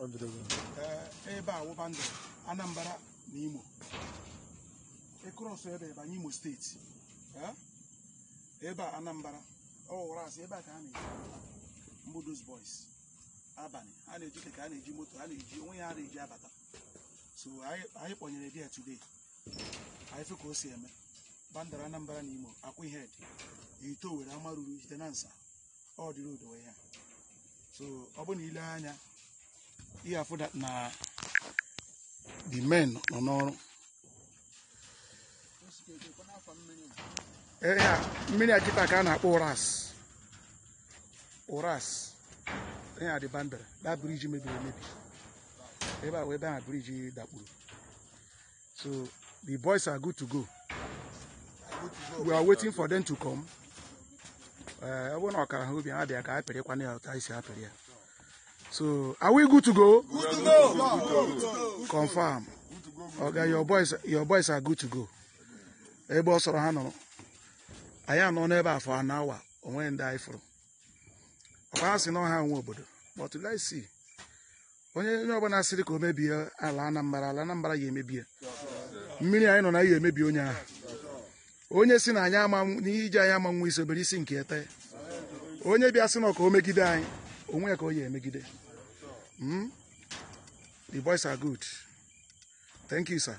Ọ dịrị gị. Ee, ebe a wụ boundary anambra na imo ị cross ebe banye imo steeti Ee, ebe a anambra Ụrasị ebe a ka a na-eji mbụ those boys abalị a na-eji keke a na-eji moto a na-eji onwe ya a na-eji abata so anyị anyị kpọnyere bịa today anyị fụ ka o si eme boundary anambra na imo Akwa Ihedi Ihite Owerri Amaruru Ihitenansa ọ dịrị odowe ya so ọ bụ na i lee anya ị ya-afụ that na the men nọ n'ọrụ Ee, ya, mmiri a kịta ka a na-akpọ ụras ụras ihe a dị boundary the bridge mebiri emebi ebe a wụ ebe ahụ bridge dakpuru So the boys are good to go. We are waiting for them to come. Eh, ọ bụrụ na ọ kara ha obi ha bịa ka ha pịrị kwana ya otu anyị si apịrị ya. So are we good to go? Good to go. Confirm. Oga your boys your boys are good to go. Ebe ọ sọrọ ha nọrọ. Anyị anọ n'ebe a for an hour o nwe ndị anyị fụrụ. Ọ kwa ha si na ọ ha nwe obodo. But let's see. onye onye ọbụla sịrị ka o mebie ala anambra ala anambra ya emebie mmiri anyị nọ na ya emebi onye ahụ onye sị na anyị ama n'iji anyị ama nwe isi o bere isi nke ete onye bịa sị na ka o megide anyị onwe ya ka ọ ya-emegide Mm? the boys are good thank you sir